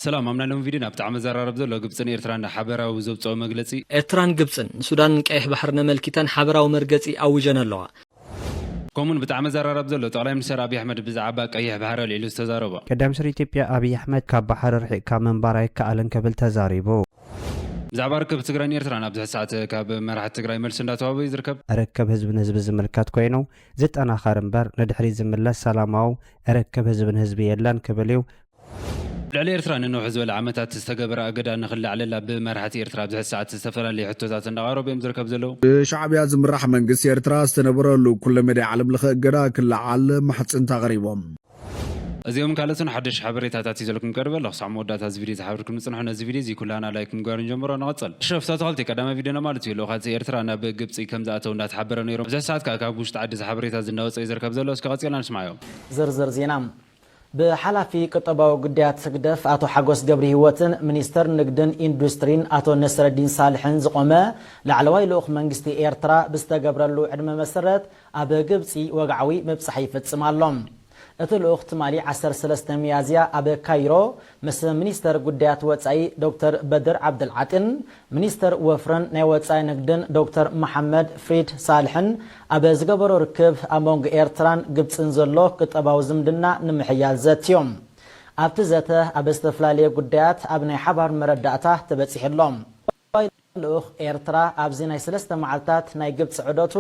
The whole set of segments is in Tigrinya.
ሰላም ኣብ ናይ ሎሚ ቪድዮ ናብ ጣዕሚ ዘራርብ ዘሎ ግብጽን ኤርትራን ንሓበራዊ ዘውጽኦ መግለጺ። ኤርትራን ግብጽን ንሱዳንን ቀይሕ ባሕርን ኣመልኪተን ሓበራዊ መርገጺ ኣዊጀን ኣለዋ። ከምኡውን ብጣዕሚ ዘራርብ ዘሎ ጠቅላይ ሚኒስተር ኣቢይ ኣሕመድ ብዛዓባ ቀይሕ ባሕሪ ኣልዒሉ ዝተዛረቦ። ቀዳም ስር ኢትዮጵያ ኣቢይ ኣሕመድ ካብ ባሕሪ ርሒቅካ ምንባር ኣይከኣልን ክብል ተዛሪቡ። ብዛዕባ ርክብ ትግራይን ኤርትራን ኣብዚ ሕዚ ሰዓት ካብ መራሕቲ ትግራይ መልሲ እንዳተዋህበ እዩ ዝርከብ። ርክብ ህዝብን ህዝቢ ዝምልከት ኮይኑ ዝጠናኸር እምበር ንድሕሪት ዝምለስ ሰላማው ርክብ ህዝብን ህዝቢ የለን ክብል እዩ። ልዕሊ ኤርትራ ንንውሕ ዝበለ ዓመታት ዝተገበረ ኣገዳ ንክላዕለላ ብመራሕቲ ኤርትራ ኣብዚ ሕዚ ሰዓት ዝተፈላለየ ሕቶታት እንዳቐረቡ እዮም ዝርከቡ ዘለዉ። ብሻዕብያ ዝምራሕ መንግስቲ ኤርትራ ዝተነበረሉ ኩለመዳይ ዓለምለኸ እገዳ ክለዓል ማሕጽንታ ኣቕሪቦም። እዚኦምን ካልኦትን ሓደሽቲ ሓበሬታታት ሒዘልኩም ቀሪበ ኣለኹ። ክሳዕ መወዳእታ እዚ ቪድዮ ዝሓብርኩም ንጽንሑ። ነዚ ቪድዮ እዚ ኩላህና ላይክ ምግባር ንጀምሮ። ንቐጽል። ሸፍታ ኣታኽልቲ ቀዳማይ ቪድዮና ማለት እዩ። ልኡኻት ኤርትራ ናብ ግብጺ ከም ዝኣተው እንዳተሓበረ ነይሩ። ኣብዚ ሕዚ ሰዓት ከኣ ካብ ውሽጢ ዓዲ እዚ ሓበሬታ እዚ እንዳወጸ እዩ ዝርከብ ዘሎ። እስከ ቀጺልና ንስማዓዮ። ዝርዝር ዜና። ብሓላፊ ቁጠባዊ ጉዳያት ህግደፍ ኣቶ ሓጎስ ገብሪሂወትን ሚኒስተር ንግድን ኢንዱስትሪን ኣቶ ነስረዲን ሳልሕን ዝቖመ ላዕለዋይ ልኡኽ መንግስቲ ኤርትራ ብዝተገብረሉ ዕድመ መሰረት ኣብ ግብጺ ወግዓዊ ምብጻሕ ይፍጽም ኣሎ። እቲ ልኡኽ ትማሊ ዓሰርተ ሰለስተ ሚያዝያ ኣብ ካይሮ ምስ ሚኒስተር ጉዳያት ወጻኢ ዶክተር በድር ዓብደልዓጢን ሚኒስትር ወፍርን ናይ ወጻኢ ንግድን ዶክተር መሓመድ ፍሪድ ሳልሕን ኣብ ዝገበሮ ርክብ ኣብ መንጎ ኤርትራን ግብጽን ዘሎ ቁጠባዊ ዝምድና ንምሕያል ዘትዮም። ኣብቲ ዘተ ኣብ ዝተፈላለየ ጉዳያት ኣብ ናይ ሓባር መረዳእታ ተበጺሑ ኣሎ። ቋሚ ልኡኽ ኤርትራ ኣብዚ ናይ ሰለስተ መዓልታት ናይ ግብጺ ዑደቱ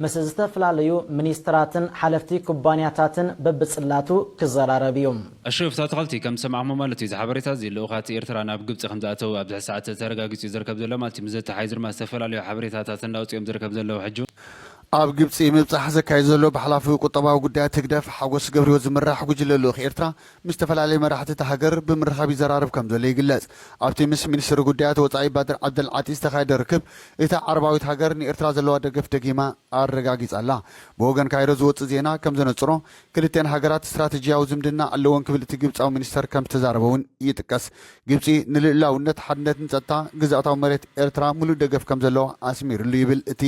ምስ ዝተፈላለዩ ሚኒስትራትን ሓለፍቲ ኩባንያታትን በብጽላቱ ክዘራረብ እዩ። ኣሸብፍ ታተኸልቲ ከም ዝሰማዕክሞ ማለት እዩ እዚ ሓበሬታ እዚ ልኡኻት ኤርትራ ናብ ግብጺ ከም ዝኣተው ኣብዚ ሕዚ ሰዓት ተረጋጊጹ እዩ ዝርከብ ዘሎ ማለት እዩ ምስ ዘተሓይዙ ድማ ዝተፈላለዩ ሓበሬታታት እንዳውጽኡ እዮም ዝርከብ ዘለዉ ሕጂ ኣብ ግብጺ ምብጻሕ ዘካይድ ዘሎ ብሓላፊ ቁጠባዊ ጉዳያት ህግደፍ ሓጎስ ገብሪሂወት ዝምራሕ ጉጅለ ልኡኽ ኤርትራ ምስ ዝተፈላለዩ መራሕቲ እታ ሃገር ብምርኻብ ይዘራረብ ከምዘሎ ይግለጽ። ኣብቲ ምስ ሚኒስትሪ ጉዳያት ወጻኢ ባድር ዓብደልዓጢ ዝተኻየደ ርክብ፣ እታ ዓረባዊት ሃገር ንኤርትራ ዘለዋ ደገፍ ደጊማ ኣረጋጊጻ'ላ። ብወገን ካይሮ ዝወጽእ ዜና ከምዘነጽሮ፣ ክልቲኣን ሃገራት ስትራተጂያዊ ዝምድና ኣለወን ክብል እቲ ግብጻዊ ሚኒስተር ከምዝተዛረበ'ውን ይጥቀስ። ግብጺ ንልኡላውነት፣ ሓድነትን ጸጥታ ግዝኣታዊ መሬት ኤርትራ ምሉእ ደገፍ ከምዘለዋ ኣስሚርሉ ይብል እቲ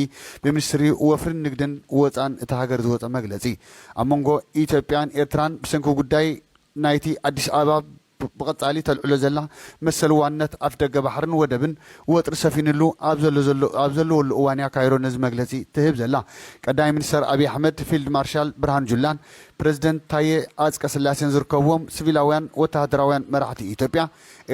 ብሚኒስትሪ ወፍሪን ንግድን ወጻእን እታ ሃገር ዝወጸ መግለጺ። ኣብ መንጎ ኢትዮጵያን ኤርትራን ብሰንኪ ጉዳይ ናይቲ ኣዲስ ኣበባ ብቐጻሊ ተልዕሎ ዘላ መሰል ዋንነት ኣፍደገ ባሕርን ወደብን ወጥሪ ሰፊንሉ ኣብ ዘሎ ዘሎ ኣብ ዘለወሉ እዋን'ያ ካይሮ ነዚ መግለጺ ትህብ ዘላ። ቀዳማይ ሚኒስተር ኣብይ ኣሕመድ፣ ፊልድ ማርሻል ብርሃኑ ጁላን ፕረዚደንት ታዬ ኣጽቀስላሴን ዝርከብዎም ሲቪላውያን ወተሃደራውያን መራሕቲ ኢትዮጵያ፣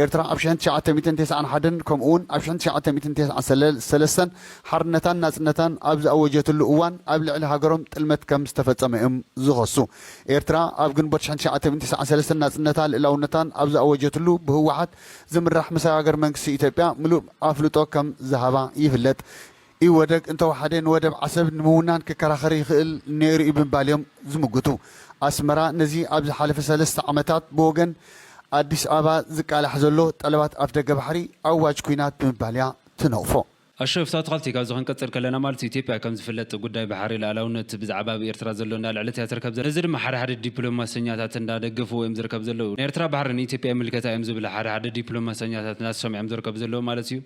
ኤርትራ ኣብ ሽሕን ትሽዓተ ሚእትን ተስዓን ሓደን ከምኡውን ኣብ ሽሕን ትሽዓተ ሚእትን ተስዓን ሰለስተን ሓርነታን ናጽነታን ኣብ ዝኣወጀትሉ እዋን ኣብ ልዕሊ ሃገሮም ጥልመት ከም ዝተፈጸመ እዮም ዝኸሱ። ኤርትራ ኣብ ግንቦት ሽሕን ትሽዓተ ሚእትን ተስዓን ሰለስተን ናጽነታን ልእላውነታን ኣብ ዝኣወጀትሉ ብህወሓት ዝምራሕ መሰጋገሪ መንግስቲ ኢትዮጵያ ምሉእ ኣፍልጦ ከም ዝሃባ ይፍለጥ። ኢህወደግ እንተወሓደ ንወደብ ዓሰብ ንምውናን ክከራኸር ይኽእል ነይሩ'ዩ ብምባል'ዮም ዝምጉቱ። ኣስመራ ነዚ ኣብ ዝሓለፈ ሰለስተ ዓመታት ብወገን ኣዲስ ኣበባ ዝቃላሕ ዘሎ ጠለባት ኣፍደገ ባሕሪ ኣዋጅ ኲናት ብምባል'ያ ትነቕፎ። ኣሹ እፍቶ ኣትክልቲ ካብዚ ክንቅጽል ከለና ማለት እዩ ኢትዮጵያ ከም ዝፍለጥ ጉዳይ ባሕሪ ልኣላውነት ብዛዕባ ኣብ ኤርትራ ዘሎ እንዳልዐለት እያ ትርከብ ዘላ ነዚ ድማ ሓደ ሓደ ዲፕሎማሰኛታት እንዳደገፍዎ እዮም ዝርከብ ዘለዉ ናይ ኤርትራ ባሕሪ ንኢትዮጵያ ይምልከታ እዮም ዝብላ ሓደ ሓደ ዲፕሎማሰኛታት ናተሶም እዮም ዝርከቡ ዘለዉ ማለት እዩ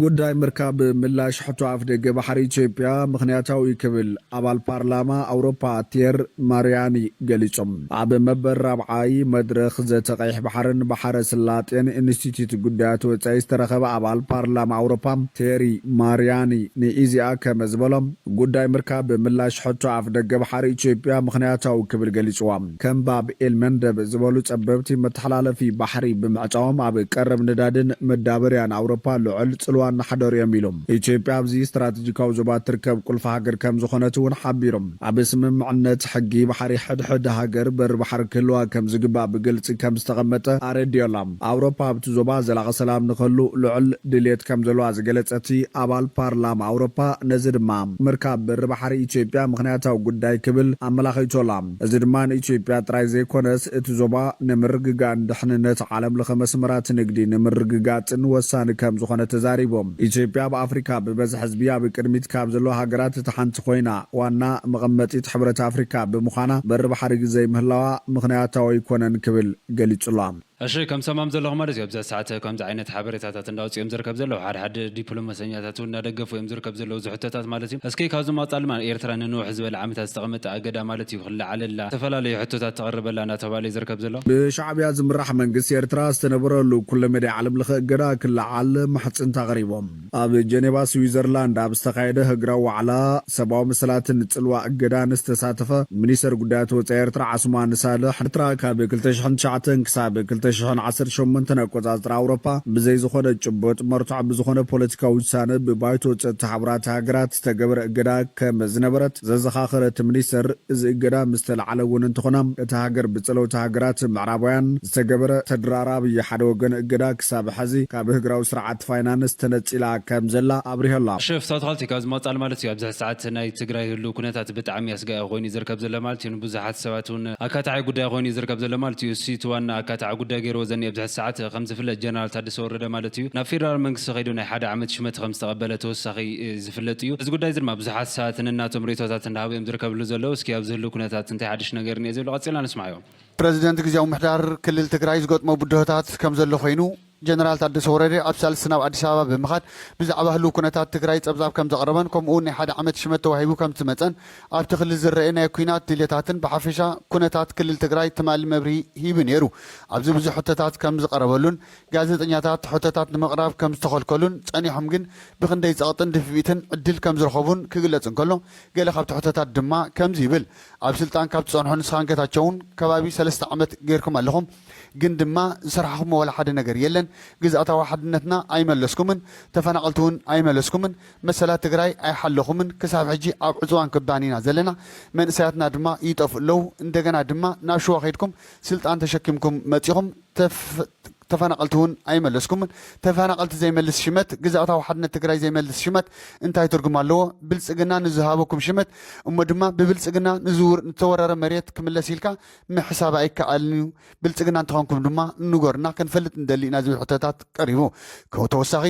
ጉዳይ ምርካብ ምላሽ ሕቶ ኣፍደገ ባሕሪ ኢትዮጵያ ምኽንያታዊ'ዩ ክብል ኣባል ፓርላማ ኣውሮፓ ቲየር ማሪያኒ ገሊጾም። ኣብ መበል ራብዓይ መድረኽ ዘተ ቀይሕ ባሕርን ባሕረ ስላጤን ኢንስቲትዩት ጉዳያት ወጻኢ ዝተረኸበ ኣባል ፓርላማ ኣውሮፓ ቴሪ ማሪያኒ ንኢዜኣ ከመዝበሎ፣ ጉዳይ ምርካብ ምላሽ ሕቶ ኣፍደገ ባሕሪ ኢትዮጵያ ምኽንያታዊ ክብል ገሊጽዋ። ከም ባብ ኤል መንደብ ዝበሉ ጸበብቲ መተሓላለፊ ባሕሪ ብምዕጻዎም ኣብ ቀረብ ነዳድን መዳበርያን ኣውሮፓ ልዑል ጽልዋ እናሕደሩ እዮም ኢሉ። ኢትዮጵያ ኣብዚ ስትራቴጂካዊ ዞባ እትርከብ ቁልፊ ሃገር ከም ዝኾነት እውን ሓቢሩ። ኣብ ስምምዕነት ሕጊ ባሕሪ ሕድሕድ ሃገር በሪ ባሕሪ ክህልዋ ከም ዝግባእ ብግልጺ ከም ዝተቐመጠ ኣረዲኦ ኣሎ። ኣውሮፓ ኣብቲ ዞባ ዘላቒ ሰላም ንክህሉ ልዑል ድልየት ከም ዘለዋ ዝገለጸ እቲ ኣባል ፓርላማ ኣውሮፓ ነዚ ድማ ምርካብ በሪ ባሕሪ ኢትዮጵያ ምኽንያታዊ ጉዳይ ክብል ኣመላኺቱ ኣሎ። እዚ ድማ ንኢትዮጵያ ጥራይ ዘይኮነስ እቲ ዞባ ንምርግጋእን ድሕንነት ዓለም ለኸ መስመራት ንግዲ ንምርግጋፅን ወሳኒ ከምዝኾነ ተዛሪቦም። ኢትዮጵያ ኣብ ኣፍሪካ ብበዝሒ ህዝቢ ኣብ ቅድሚት ካብ ዘለዋ ሃገራት እታ ሓንቲ ኮይና ዋና መቐመጢት ሕብረት ኣፍሪካ ብምዃና በሪ ባሕሪ ዘይምህላዋ ምኽንያታዊ ኣይኮነን ክብል ገሊፁ'ሎ። እሺ ከም ትሰምዖም ዘለኹ ማለት እዩ ኣብዛ ሰዓት ከምዚ ዓይነት ሓበሬታታት እንዳውጽኡ እዮም ዝርከብ ዘለዉ ሓደ ሓደ ዲፕሎመሰኛታት ውን እንዳደገፉ እዮም ዝርከብ ዘለዉ እዚ ሕቶታት ማለት እዩ እስኪ ካብዚ ምቕጻል ድማ ኤርትራ ንንውሕ ዝበለ ዓመታት ዝተቐመጠ ኣገዳ ማለት እዩ ክለዓለላ ዝተፈላለዩ ሕቶታት ተቕርበላ እንዳተባህለ እዩ ዝርከብ ዘሎ ብሻዕብያ ዝምራሕ መንግስቲ ኤርትራ ዝተነበረሉ ኩለመዳይ ዓለምለኸ እገዳ ክለዓል ምሕጽንታ ኣቕሪቦም። ኣብ ጀኔቫ ስዊዘርላንድ ኣብ ዝተኻየደ ህግራዊ ዋዕላ ሰብኣዊ መሰላትን ጽልዋ እገዳን ዝተሳተፈ ሚኒስተር ጉዳያት ወጻኢ ኤርትራ ዓስማን ሳልሕ፣ ኤርትራ ካብ ክልተ ሽሕን ትሽዓተን ክሳብ ክልተ ሽሕን ዓሰርተ ሸሞንተን ኣቆጻጽራ ኣውሮፓ ብዘይ ዝኾነ ጭቡጥ መርትዖ ብዝኾነ ፖለቲካዊ ውሳነ ብባይቶ ጸጥታ ሕቡራት ሃገራት ዝተገበረ እገዳ ከመዝነበረት ዘዘኻኸረ እቲ ሚኒስተር እዚ እገዳ ምስተልዓለ እውን እንተኾነ እታ ሃገር ብጸለውቲ ሃገራት ምዕራባውያን ዝተገበረ ተደራራቢ ሓደ ወገን እገዳ ክሳብ ሐዚ ካብ ህግራዊ ስርዓት እቲ ፋይናንስ ተነጺላ ከም ዘላ ኣብሪሀላ። ሸፍ ሳውት ኻልቲ ካብ ዝመቅጻል ማለት እዩ ኣብዚ ሕዚ ሰዓት ናይ ትግራይ ህልው ኩነታት ብጣዕሚ ኣስጋኢ ኾይኑ እዩ ዝርከብ ዘሎ ማለት እዩ ንብዙሓት ሰባት እውን ኣካታዒ ጉዳይ ኾይኑ እዩ ዝርከብ ዘሎ ማለት እዩ እሱይ እቲ ዋና ኣካታዒ ጉዳይ ገይርዎ ዘኒኤ ኣብዚ ሕዚ ሰዓት ኸም ዝፍለጥ ጀነራል ታደሰ ወረደ ማለት እዩ ናብ ፌደራል መንግስቲ ኸይዱ ናይ ሓደ ዓመት ሹመት ኸም ዝተቀበለ ተወሳኺ ዝፍለጥ እዩ እዚ ጉዳይ እዚ ድማ ብዙሓት ሰባት ነናቶም ሪኢቶታት እንዳሃቡ እዮም ዝርከብሉ ዘለው እስኪ ኣብዚ ህልው ኩነታት እንታይ ሓዱሽ ነገር እኒኤ ዝብሉ ቀጺልና ንስማዕዮ። ፕረዚደንት ግዝያዊ ምምሕዳር ክልል ትግራይ ዝገጥሞ ብድሆታት ከም ዘሎ ኾይኑ፣ ጀነራል ታደሰ ወረደ ኣብ ሳልስቲ ናብ ኣዲስ ኣበባ ብምኻድ ብዛዕባ ህሉው ኩነታት ትግራይ ፀብፃብ ከምዘቕረበን ከምኡ'ውን ናይ ሓደ ዓመት ሽመት ተዋሂቡ ከምዝመፀን ኣብቲ ክልል ዝረኤ ናይ ኩናት ድልየታትን ብሓፈሻ ኩነታት ክልል ትግራይ ትማሊ መብርሂ ሂቡ ነይሩ ኣብዚ ብዙሕ ሕቶታት ከምዝቐረበሉን ጋዜጠኛታት ሕቶታት ንምቕራብ ከምዝተኸልከሉን ፀኒሖም ግን ብኽንደይ ፀቕጥን ድፍኢትን ዕድል ከምዝረኸቡን ክግለፅ እንከሎ ገለ ካብቲ ሕቶታት ድማ ከምዚ ይብል ኣብ ስልጣን ካብ ትፀንሑ ንስኻን ገታቸውን ከባቢ ሰለስተ ዓመት ገይርኩም ኣለኹም ግን ድማ ዝሰራሕኹሞ ዋላ ሓደ ነገር የለን ግዝኣታዊ ሓድነትና ኣይመለስኩምን ተፈናቀልቲ ውን ኣይመለስኩምን መሰላት ትግራይ ኣይሓለኹምን ክሳብ ሕጂ ኣብ ዕፅዋን ክባን ኢና ዘለና መንእሰያትና ድማ ይጠፍኡ ኣለው እንደገና ድማ ናብ ሽዋ ከይድኩም ስልጣን ተሸኪምኩም መፂኹም ተፈናቀልቲ ውን ኣይመለስኩምን ተፈናቀልቲ ዘይመልስ ሽመት ግዝኣታዊ ሓድነት ትግራይ ዘይመልስ ሽመት እንታይ ትርጉም ኣለዎ ብልፅግና ንዝሃበኩም ሽመት እሞ ድማ ብብልፅግና ንዝተወረረ መሬት ክምለስ ኢልካ ምሕሳብ ኣይከኣልን እዩ፣ ብልጽግና እንተኾንኩም ድማ ንገሩና ክንፈልጥ ንደሊ ኢና ዝብል ሕቶታት ቀሪቡ። ከብ ተወሳኺ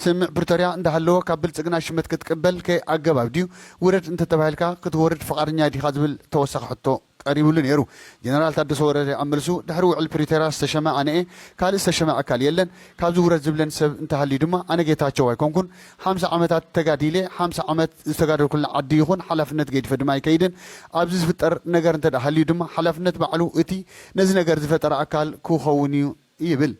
ስምምዕ ፕሪቶርያ እንዳሃለወ ካብ ብልጽግና ሽመት ክትቅበል ከ ኣገባብ ድዩ? ውረድ እንተተባሂልካ ክትወርድ ፍቓደኛ ዲኻ ዝብል ተወሳኺ ሕቶ ቀሪብሉ ነይሩ። ጀነራል ታደሰ ወረደ ኣብ መልሱ ድሕሪ ውዕል ፕሪቶርያ ዝተሸመ ኣነ እየ፣ ካልእ ዝተሸመ ኣካል የለን፣ ካብዚ ውረድ ዝብለን ሰብ እንተሃልዩ ድማ ኣነ ጌታቸው ኣይኮንኩን፣ ሓምሳ ዓመታት ተጋዲለ፣ ሓምሳ ዓመት ዝተጋደልኩላ ዓዲ ይኹን ሓላፍነት ገዲፈ ድማ ኣይከይድን። ኣብዚ ዝፍጠር ነገር እንተድኣ ሃልዩ ድማ ሓላፍነት ባዕሉ እቲ ነዚ ነገር ዝፈጠረ ኣካል ክኸውን እዩ ይብል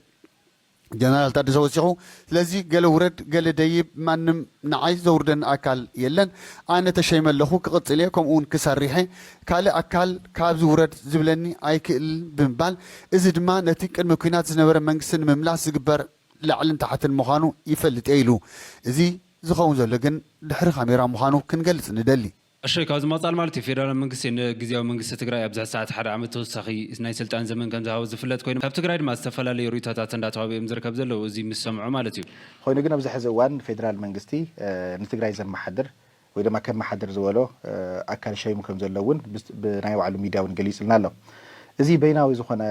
ጀነራል ታደሰ ወሲኹ። ስለዚ ገለ ውረድ ገለ ደይብ ማንም ንዓይ ዘውርደኒ ኣካል የለን። ኣነ ተሸይመ ኣለኹ፣ ክቕፅል እየ ከምኡ እውን ክሰርሕ እየ። ካልእ ኣካል ካብዚ ውረድ ዝብለኒ ኣይክእልን ብምባል እዚ ድማ ነቲ ቅድሚ ኲናት ዝነበረ መንግስቲ ንምምላስ ዝግበር ላዕልን ታሕትን ምዃኑ ይፈልጥ'የ ኢሉ። እዚ ዝኸውን ዘሎ ግን ድሕሪ ካሜራ ምዃኑ ክንገልጽ ንደሊ። ኣሸይ ካብዚ ምቕፃል ማለት እዩ ፌደራል መንግስቲ ንግዝያዊ መንግስቲ ትግራይ ኣብ ዝሕዚ ሰዓት ሓደ ዓመት ተወሳኺ ናይ ስልጣን ዘመን ከምዝሃቦ ዝፍለጥ ኮይኑ ካብ ትግራይ ድማ ዝተፈላለዩ ሪኢቶታት እንዳተዋህበ እዮም ዝርከብ ዘለው እዙይ ምስ ሰምዑ ማለት እዩ። ኾይኑ ግን ኣብዚ ሕዚ እዋን ፌደራል መንግስቲ ንትግራይ ዘመሓድር ወይ ድማ ከመሓድር ዝበሎ ኣካል ሸይሙ ከም ዘሎ እውን ብናይ ባዕሉ ሚድያ እውን ገሊፅልና ኣሎ። እዚ በይናዊ ዝኾነ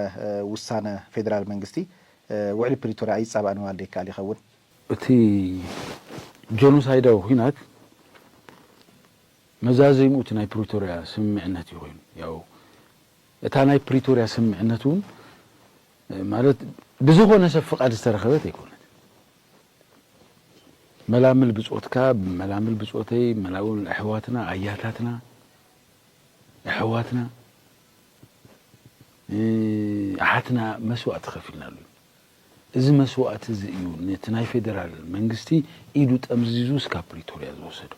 ውሳነ ፌዴራል መንግስቲ ውዕሊ ፕሪቶርያ ኣይፃባእን ምባል ዶ ይከኣል ይኸውን? እቲ ጆኖሳይዳዊ ኹናት መዛዘሚኡ እቲ ናይ ፕሪቶርያ ስምምዕነት እዩ ኮይኑ። ያው እታ ናይ ፕሪቶርያ ስምምዕነት እውን ማለት ብዝኾነ ሰብ ፍቓድ ዝተረኸበት ኣይኮነትን። መላምል ብጾትካ መላምል ብጾተይ መላምል ኣሕዋትና ኣያታትና ኣሕዋትና ኣሓትና መስዋእቲ ከፊልናሉ እዩ። እዚ መስዋእቲ እዚ እዩ ነቲ ናይ ፌደራል መንግስቲ ኢዱ ጠምዚዙ እስካብ ፕሪቶርያ ዝወሰዶ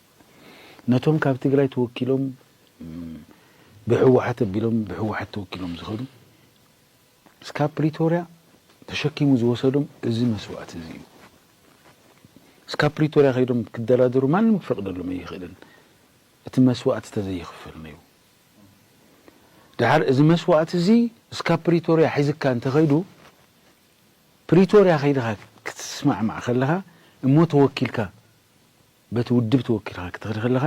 ነቶም ካብ ትግራይ ተወኪሎም ብህወሓት ኣቢሎም ብህወሓት ተወኪሎም ዝኸዱ እስካብ ፕሪቶርያ ተሸኪሙ ዝወሰዶም እዚ መስዋእቲ እዚ እዩ። እስካብ ፕሪቶርያ ከይዶም ክደራደሩ ማንም ክፈቅደሎም ኣይኽእልን እቲ መስዋእቲ ተዘይኽፈል ነይሩ። ደሓር እዚ መስዋእቲ እዚ እስካብ ፕሪቶርያ ሒዝካ እንተኸይዱ ፕሪቶርያ ከይድኻ ክትስማዕማዕ ከለኻ እሞ ተወኪልካ በቲ ውድብ ተወኪልኻ ክትኸድ ከለኻ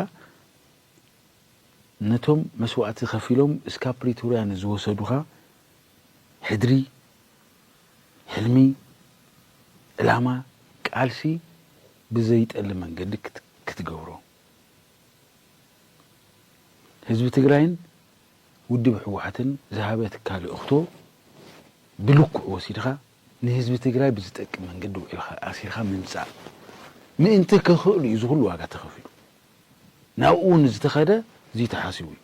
ነቶም መስዋእቲ ከፊሎም እስካብ ፕሪቶርያ ንዝወሰዱኻ ሕድሪ፣ ሕልሚ፣ ዕላማ፣ ቃልሲ ብዘይጠልም መንገዲ ክትገብሮ ህዝቢ ትግራይን ውድብ ህወሓትን ዝሃበትካ ልእኽቶ ብልክዑ ወሲድኻ ንህዝቢ ትግራይ ብዝጠቅም መንገዲ ውዒልካ ኣሲርካ ምምፃእ ምእንቲ ከኽእሉ እዩ እዚ ኹሉ ዋጋ ተኸፊሉ። ናብኡ ውን ዝተኸደ እዙይ ተሓሲቡ እዩ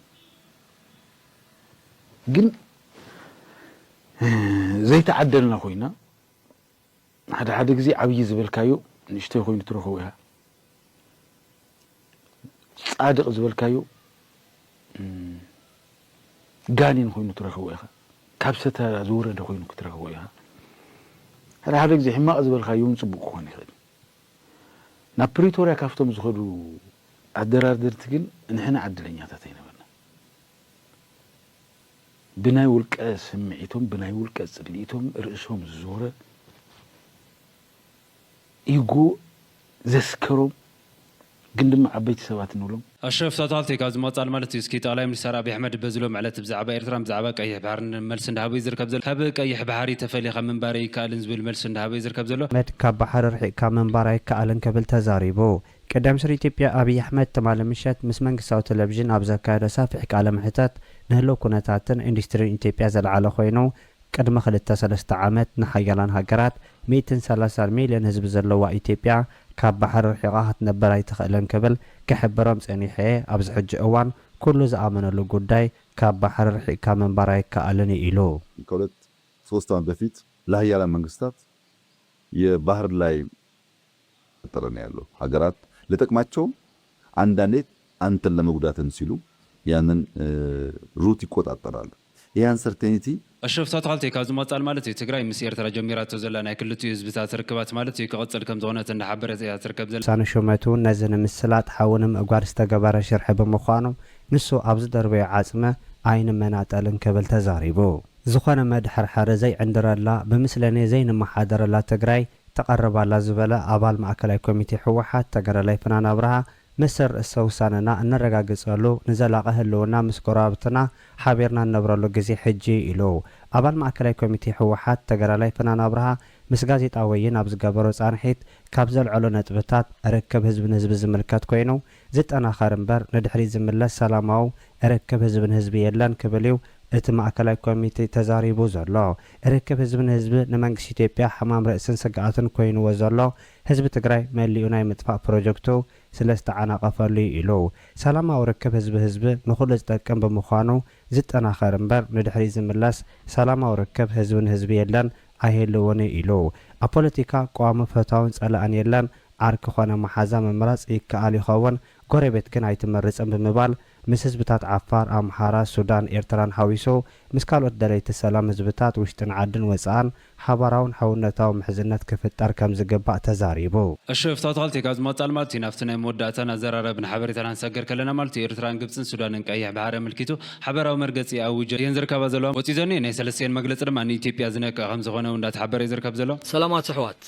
ግን ዘይተዓደልና ኮይና ሓደ ሓደ ግዜ ዓብዪ ዝበልካዮ ንእሽተይ ኮይኑ ትረኽቦ ኢኻ ፃድቅ ዝበልካዮ ጋኒን ኮይኑ ትረኽቦ ኢኻ ካብ ሰተ ዝወረደ ኮይኑ ክትረኽቦ ኢኻ ሓደ ሓደ ግዜ ሕማቅ ዝበልካዮ ውን ፅቡቅ ክኾን ይኽእል ናብ ፕሪቶርያ ካብቶም ዝኸዱ ኣደራደርቲ ግን ንሕና ዕድለኛታት ኣይነበርናን። ብናይ ውልቀ ስምዒቶም፣ ብናይ ውልቀ ጽልኢቶም ርእሶም ዝዞረ፣ ኢጎ ዘስከሮም ግን ድማ ዓበይቲ ሰባት ንብሎም። ኣሽረፍ ሳቶ ሃፍተይ ካብዚ ምቕጻል ማለት እዩ እስኪ ጠቕላይ ሚኒስተር ኣቢ ኣሕመድ በዚ ሎሚ ዕለት ብዛዕባ ኤርትራን ብዛዕባ ቀይሕ ባሕርን መልሲ እንዳሃበ እዩ ዝርከብ ዘሎ። ካብ ቀይሕ ባሕሪ ተፈሊኻ ምንባር ኣይከኣልን ዝብል መልሲ እንዳሃበ እዩ ዝርከብ ዘሎ። ኣሕመድ ካብ ባሕሪ ርሒቕካ ምንባር ኣይከኣልን ክብል ተዛሪቡ። ቀዳማይ ሚኒስተር ኢትዮጵያ ኣቢይ ኣሕመድ ትማሊ ምሸት ምስ መንግስታዊ ተለቪዥን ኣብ ዘካየዶ ሰፊሕ ቃለ መሕተት ንህልው ኩነታትን ኢንዱስትሪን ኢትዮጵያ ዘልዓለ ኮይኑ ቅድሚ ክልተ ሰለስተ ዓመት ንሓያላን ሃገራት ሚእትን ሰላሳን ሚልዮን ህዝቢ ዘለዋ ኢትዮጵያ ካብ ባሕሪ ርሒቓ ክትነብር ኣይትኽእልን ክብል ክሕብሮም ጸኒሐ'የ፣ ኣብዚ ሕጂ እዋን ኩሉ ዝኣመነሉ ጉዳይ ካብ ባሕሪ ርሒቕካ ምንባር ኣይከኣልን እዩ ኢሉ። ከሁለት ሶስት ዓመት በፊት ለሀያላን መንግስታት የባህር ላይ እየተፈጠረ ነው ያለው ሀገራት ለጠቅማቸውም አንዳንዴ አንተን ለመጉዳትም ሲሉ ያንን ሩት ይቆጣጠራሉ ይሄ አንሰርቴኒቲ ኣሽረፍ እታ ኣታኽልቲ ካብ ዝመቅጻል ማለት እዩ ትግራይ ምስ ኤርትራ ጀሚራቶ ዘላ ናይ ክልቲኡ ህዝብታት ርክባት ማለት እዩ ክቅጽል ከም ዝኾነት እንዳሓበረት እያ ትርከብ ዘላ። ውሳነ ሹመቱ ነዚ ንምስላጥ ሓዊ ንምእጓድ ዝተገበረ ሽርሒ ብምዃኑ ንሱ ኣብ ዝደርበዮ ዓፅሚ ኣይንመናጠልን ክብል ተዛሪቡ። ዝኾነ መድሐርሐሪ ዘይዕንድረላ፣ ብምስለኔ ዘይንመሓደረላ ትግራይ ተቐርብ ኣላ ዝበለ ኣባል ማእከላይ ኮሚቴ ህወሓት ተጋዳላይ ፍናን ኣብርሃ፣ መሰል ርእሰ ውሳነና እነረጋግፀሉ፣ ንዘላቒ ህልውና ምስ ጎረባብትና ሓቢርና እንነብረሉ ግዜ ሕጂ እዩ ኢሉ። ኣባል ማእከላይ ኮሚቴ ህወሓት ተጋዳላይ ፍናን ኣብርሃ ምስ ጋዜጣ ወይን ኣብ ዝገበሮ ፃንሒት ካብ ዘልዐሎ ነጥብታት፣ ርክብ ህዝቢ ንህዝቢ ዝምልከት ኮይኑ፣ ዝጠናኸር እምበር ንድሕሪት ዝምለስ ሰላማዊ ርክብ ህዝቢ ንህዝቢ የለን ክብል እዩ እቲ ማእከላይ ኮሚቴ ተዛሪቡ ዘሎ። ርክብ ህዝቢ ንህዝቢ ንመንግስቲ ኢትዮጵያ ሕማም ርእስን ስግኣትን ኮይኑዎ ዘሎ ህዝቢ ትግራይ መሊኡ ናይ ምጥፋእ ፕሮጀክቱ ስለዝተዓናቐፈሉ እዩ ኢሉ። ሰላማዊ ርክብ ህዝቢ ህዝቢ ንኹሉ ዝጠቅም ብምዃኑ ዝጠናኸር እምበር ንድሕሪት ዝምለስ ሰላማዊ ርክብ ህዝቢ ንህዝቢ የለን ኣይህልውን'ዩ ኢሉ። ኣብ ፖለቲካ ቀዋሚ ፈታውን ጸላእን የለን፣ ዓርኪ ኮነ መሓዛ ምምራጽ ይከኣል ይኸውን፣ ጎረቤት ግን ኣይትመርጽን ብምባል፣ ምስ ህዝብታት ዓፋር፣ ኣምሓራ፣ ሱዳን፣ ኤርትራን ሓዊሱ ምስ ካልኦት ደለይቲ ሰላም ህዝብታት ውሽጥን ዓድን ወጻእን ሓባራውን ሕውነታዊ ምሕዝነት ክፍጠር ከምዝግባእ ተዛሪቡ። እሺ ፍታውትካል ቴካ ዝመወጻል ማልቱዩ ናፍቲ ናይ መወዳእታን ኣዘራራብን ሓበሬታ ናንሳገር ከለና ማልቱዩ ኤርትራን ግብጽን ሱዳንን ቀይሕ ብሓሪ ኣመልኪቱ ሓበራዊ መርገጺ ኣዊጆ እየን ዝርከባ ዘለዋ። ወጺኡ ዘኒኦ ናይ ሰለስተኤን መግለጺ ድማ ንኢትዮጵያ ዝነቅእ ከምዝኾነ እው እንዳተሓበረ እዩ ዝርከብ ዘሎ። ሰላማት ኣሕዋት!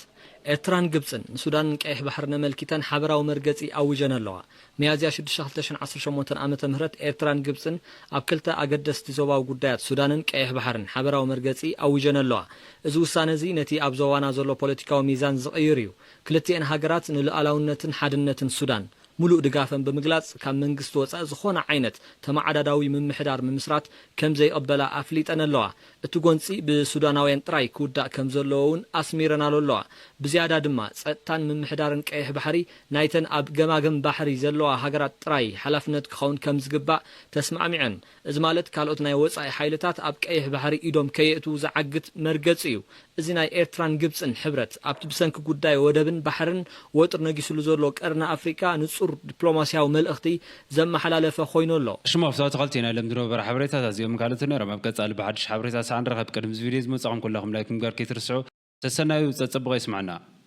ኤርትራን ግብጽን ንሱዳንን ቀይሕ ባሕርን ኣመልኪተን ሓበራዊ መርገጺ ኣዊጀን ኣለዋ። ሚያዝያ ሽዱሽተ ክልተ ሽሕን ዓሰርተ ሸሞንተን ዓመተ ምህረት ኤርትራን ግብጽን ኣብ ክልተ ኣገደስቲ ዞባዊ ጉዳያት ሱዳንን ቀይሕ ባሕርን ሓበራዊ መርገጺ ኣዊጀን ኣለዋ። እዚ ውሳነ እዚ ነቲ ኣብ ዞባና ዘሎ ፖለቲካዊ ሚዛን ዝቕይር እዩ። ክልቲኤን ሃገራት ንሉኣላውነትን ሓድነትን ሱዳን ሙሉእ ድጋፈን ብምግላፅ ካብ መንግስቲ ወፃኢ ዝኾነ ዓይነት ተመዓዳዳዊ ምምሕዳር ምምስራት ከምዘይቕበላ ኣፍሊጠን ኣለዋ። እቲ ጎንፂ ብሱዳናውያን ጥራይ ክውዳእ ከምዘለዎ እውን ኣስሚረናሉ ኣለዋ። ብዝያዳ ድማ ፀጥታን ምምሕዳርን ቀይሕ ባሕሪ ናይተን ኣብ ገማግም ባሕሪ ዘለዋ ሃገራት ጥራይ ሓላፍነት ክኸውን ከምዝግባእ ተስማዕሚዐን። እዚ ማለት ካልኦት ናይ ወጻኢ ሓይልታት ኣብ ቀይሕ ባሕሪ ኢዶም ከየእትዉ ዝዓግት መርገጺ እዩ። እዚ ናይ ኤርትራን ግብጽን ሕብረት፣ ኣብቲ ብሰንኪ ጉዳይ ወደብን ባሕርን ወጥሪ ነጊስሉ ዘሎ ቀርኒ ኣፍሪቃ ንጹር ዲፕሎማስያዊ መልእኽቲ ዘመሓላለፈ ኮይኑ ኣሎ። ሽሙ ኣፍቶ ኣትኸልቲ ናይ ሎሚ ዝነበረ ሓበሬታታት እዚኦምን ካልኦትን ነይሮም። ኣብ ቀጻሊ ብሓድሽ ሓበሬታ ሳዕ ንራኸብ። ቅድሚ እዚ ቪድዮ እዚ ምውጻኹም ኩላኹም ላይክ ምግባር ከይትርስዑ። ሰሰናዩ ጸጸብቕ የስመዐና።